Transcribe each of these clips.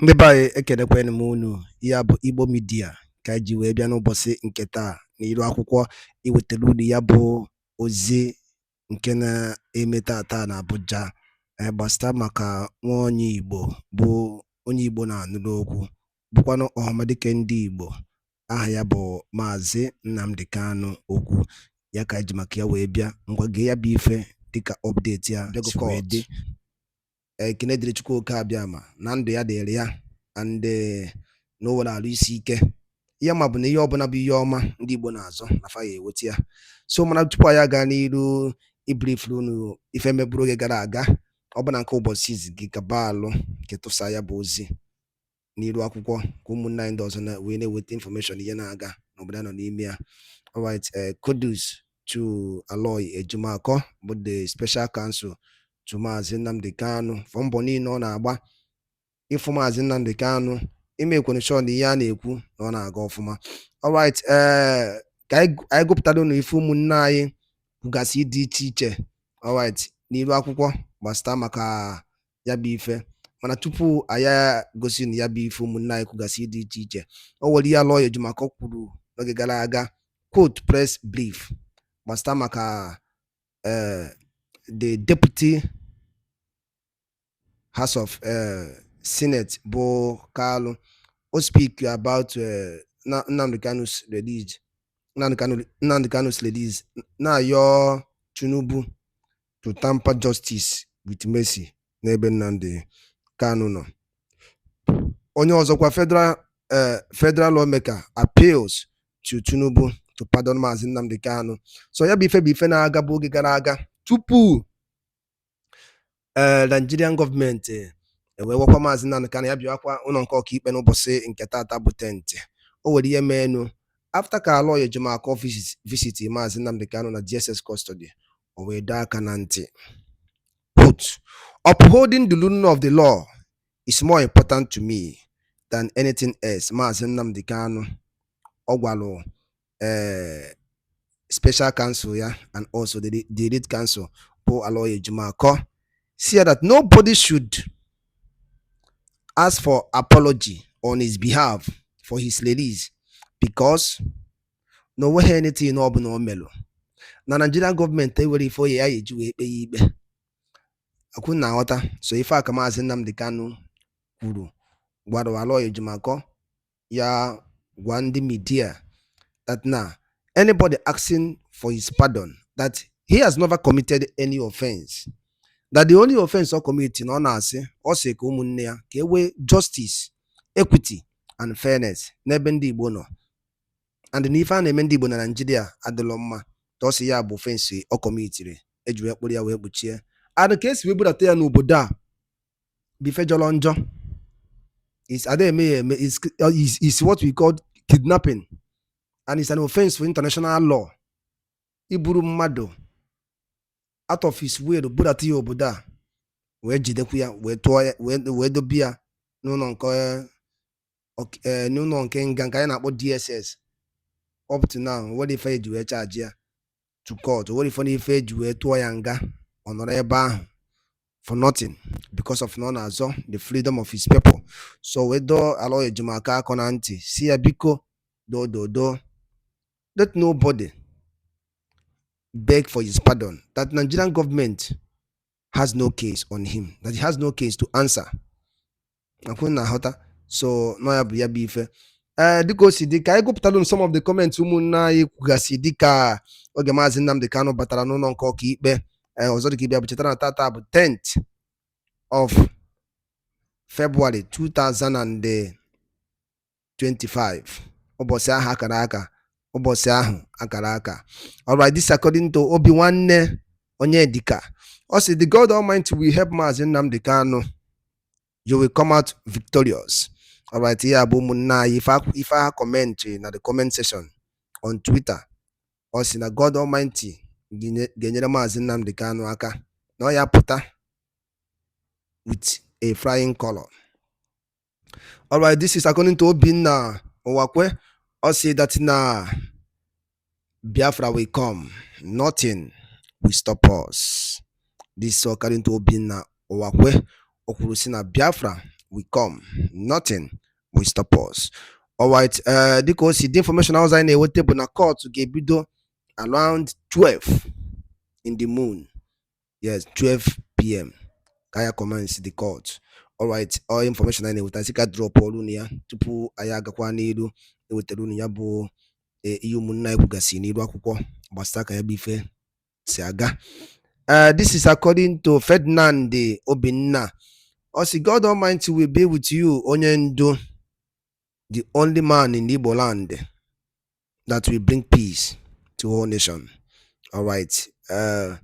ndị be anyị ekenekwanụ m unu ya bụ igbo media ka anyị ji wee bịa n'ụbọsị nke taa n'iru akwụkwọ iwetara unu ya bụ ozi nke na-eme taa taa na abuja gbasịta maka nwa onye igbo bụ onye igbo na-anụrụ okwu bụkwanụ ọhamadike ndị igbo aha ya bụ maazị nnamdị kanụ okwu ya ka anyị ji maka ya wee bịa ngwa gee ya bụ ife dịka update ya si wee dị ekene dịrị Chukwu oke abịama na ndụ ya dịrị ya and eh, na o nwere arụ isi ike ihe a ma bụ na ihe ọbụla bụ ihe ọma ndị Igbo na-azọ na fa ya-eweta ya so mana tupu anyị aga n'iru ibrifuru unu ife meburu oge gara aga ọ bụ na nke ụbọsị izizi gị gaba alụ nke tụsa ya bụ ozi n'iru akwụkwọ ka ụmụnne anyị ndị ọzọ na wee na-eweta information ihe na-aga n'obodo a nọ n'ime ya alright eh, kudos to Aloy Ejimakor bụ the special counsel to Maazị Nnamdi Kanu for mbọ niile ọ na-agba ịfụ Maazị Nnamdi Kanu imekwa sure na ihe a na-ekwu na ọ na-aga ọfụma alright eh, ka anyị gụpụtara unu ife ụmụnne anyị kwugasị dị iche iche alright n'iru akwụkwọ gbasịta maka ya bụ ife mana tupu anyị gosi na ya bụ ife ụmụnne anyị kwugasị dị iche iche o nwere ihe Aloy Ejimakor kwuru n'oge gara aga quote press brief gbasịta maka eh, the deputy house of eh, senate bụ Kalu o speak about eh, Nnamdi Kanu's release Nnamdi Kanu's release na-ayọ Tinubu to tamper justice with mercy n'ebe Nnamdi Kanu nọ. Onye ọzọkwa federal eh, federal lawmaker appeals to Tinubu to pardon Maazị Nnamdi Kanu. So ya bụ ife bụ ife na-aga bụ oge gara aga tupu eh, Nigerian government ewee gwakwa Maazị Nnamdi Kanu ya bịakwa ụlọ nke ọkaikpe n'ụbọsị nke tata bụ tenth o nwere ihe meenụ after ka Aloy Ejimakor visit Maazị Nnamdi Kanu na DSS custody o wee dọọ aka na ntị put upholding the rule of the law is more important to me than anything else maazị Nnamdi Kanu ọ gwalụ ee eh, special counsel ya and also the, the lead counsel bụ Aloy Ejimakor si ya that nobody should ask for apology on his behalf for his release because na o nweghị anything ọbụla o melụ na Nigerian government enwerọ ife ọ ya-eji wee kpe ya ikpe akwa unu na-aghọta so ife a ka maazị Nnamdi Kanu kwuru gwara Aloy Ejimakor ya gwa ndị media that na anybody asking for his pardon that he has never committed any offense that the only offense ọ commit na ọ na-asị ọ sị ka ụmụnne ya ka e nwee justice equity and fairness n'ebe ndị Igbo nọ and na ife a na-eme ndị Igbo na Naịjirịa adịlọ mma ọ sị ya bụ offense ọ kọmitiri eji wee kpụrụ ya wee kpuchie and ka esi wee budata ya n'obodo a bụ ife jọrọ njọ ada eme ya eme is what we call kidnapping and it's an offense for international law iburu mmadụ out of his way budata ya obodo a wee jidekwu ya wee tụọ ya wee dobe ya n'ụlọ nke eh, n'ụlọ nke nga nke anyị na-akpọ DSS up to now nwere ife eji wee charge ya to court nwere ife n'ife eji wee tụọ ya nga ọ nọrọ ebe ahụ for nothing because of na ọ na-azọ the freedom of his people so wee dọọ Aloy Ejimakor aka na ntị si ya biko dododo let nobody beg for his pardon that Nigerian government has no case on him that he has no case to answer ọkwa unu na-aghọta so na ya bụ ya bụ ife ee eh, dịka o si dị ka anyị gụpụtara m some of the comments ụmụnne anyị kwugasị dịka oge maazị Nnamdi Kanu batara n'ụlọ nke ọka ikpe eh, ọzọ dịka ibe ya bụ chetara na tata bụ 10th of February 2000 and eh, 25 ụbọchị ahụ akara aka ụbọchị ahụ akara aka alright this according to Obinwanne Onyedika ọ sị the God Almighty will help Maazị Nnamdi Kanu you will come out victorious alright ya bụ ụmụnne anyị ife ha comment na the comment section on Twitter ọ sị na God Almighty ga-enyere Maazị Nnamdi Kanu aka na ọ ya-apụta with a flying color All right, this is according to Obinna Uwakwe. Ọ sị that na Biafra will come. Nothing will stop us. This is according to Obinna Uwakwe. O kwuru sị na Biafra will come. Nothing will stop us. All right, uh, dịka o si dị information ọzọ anyị na-enweta bụ na court ga-ebido around 12 in the moon yes 12 pm ka ya commence the court alright ọ information anyị na-enweta sị ka dropụọrụ unu ya tupu anyị agakwa n'iru ewetara unu ya bụ e, ihe ụmụnna anyị kwugasị n'iru akwụkwọ gbasara ka ya bụ ife si aga uh, this is according to Ferdinand Obinna ọ sị God Almighty will be with you onye ndu the only man in Igbo land that will bring peace to all nation. All right. Uh,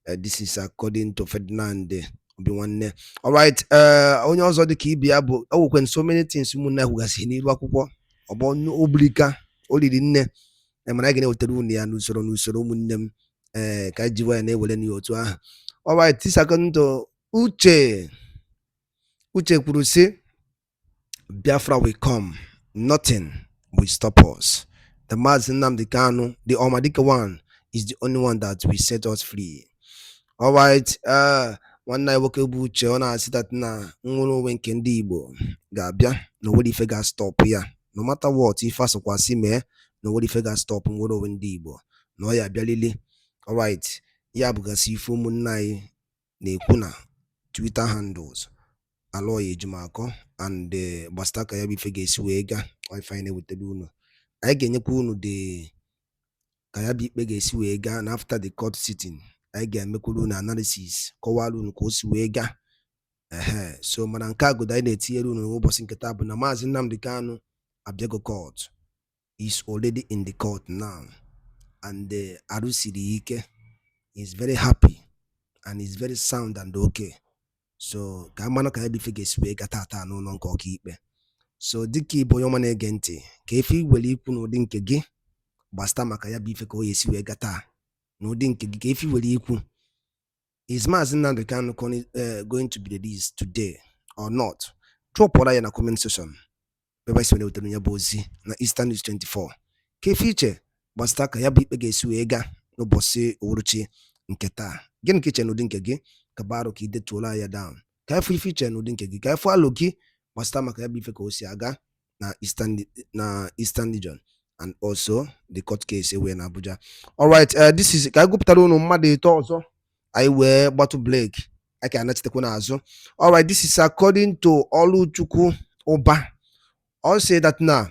uh, this is according to Ferdinand Obinwanne. All right. Uh, onye ọzọ dị ka ibe ya bụ e nwekwa so many things ụmụnna kwugasị n'iru akwụkwọ ọ bụ o bulika o lili nne e mana anyị ga na-ewetara unu ya n'usoro n'usoro ụmụnne m ee eh, ka anyị jiwa ya na-ewere n'ihe otu ahụ. All right. This according to Uche. Uche kwuru sị Biafra will come. Nothing will stop us. The Mazi Nnamdi Kanu, the Omadike one, is the only one that will set us free. All right. Uh, nwanne anyị nwoke bụ Uche ọ na-asị that na nnwere onwe nke ndị Igbo ga-abịa na onwere ife ga-astọpụ ya no matter what ife asọkwasị mee na onwere ife ga-astọpụ nnwere onwe ndị Igbo na ọ ya abịalili alright ya bụgasị ife ụmụnne anyị na-ekwu na Twitter handles Aloy Ejimakor and eh, gbasịta ka ya bụ ife ga-esi wee gaa ife anyị na-ewetara unu anyị ga-enyekwa unu the ka ya bụ ikpe ga-esi wee gaa na after the court sitting anyị ga-emekwuru unu analysis kọwara unu ka o si wee gaa ehe so mana nke a godu anyị na-etinyere unu n'ụbọsị nke taa bụ na maazị Nnamdi Kanu abịago court is already in the court now and uh, arụ siri ya ike is very happy and is very sound and okay so ka a mara ka ya bụ ife ga-esi wee gaa tata n'ụlọ nke ọkaikpe so dịka ị bụ onye ọma na-ege ntị kee ife i nwere ikwu n'ụdị nke gị gbasịta maka ya bụ ife ka o ya esi wee gaa taa n'ụdị nke gị kee ife i nwere ikwu is Mazi Nnamdi Kanu eh, going to be released today or not? Dropụra ya na comment section. Ebe anyị si wele wetara ya bụ ozi na Eastern News 24 kee ife i che gbasata ka ya bụ ikpe ga-esi wee gaa n'ụbọsị uhuruchi nke taa gịnị ka i che n'ụdị nke gị ka baro ka i detuola ya down ka a fụ ife i che n'ụdị nke gị ka a fụ alo gị gbasata maka ya bụ ife ka o si aga na Eastern na Eastern Region and also the court case e nwere na Abuja alright uh, this is ka anyị gụpụtara unu mmadụ ịtọ ọzọ anyị wee gbatụ break anyị ka anachitekwa n'azụ alright this is according to Oluchukwu Uba ọ sị that na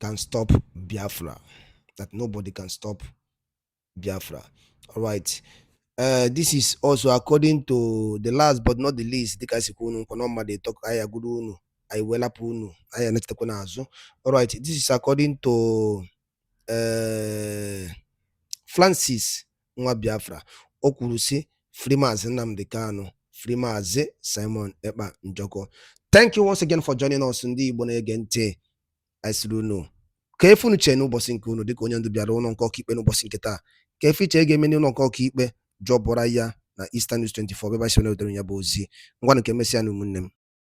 can stop Biafra. That nobody can stop Biafra. All right. Uh, this is also according to the last but not the least dịka si kwe unu nkwa na mmadụ ịtọ ka anyị agụrụ unu anyị wee lapụ unu anyị anachitekwa n'azụ alright this is according to uh, Francis nwa Biafra o kwuru si free Maazị Nnamdi Kanu free Maazị Simon Ekpa Njoku thank you once again for joining us ndị Igbo na-ege ntị anyị sịrị unu kee ife unu chee n'ụbọsị nke unu dịka onye ndu bịara ụlọ nke ọkaikpe n'ụbọsị nke taa kee ife i che ga-eme n'ụlọ nke ọkaikpe dropụra ya na Eastern News 24 ebe anyị si wee wetara ya bụ ozi ngwanụ ka e mesịa nụ ụmụnne m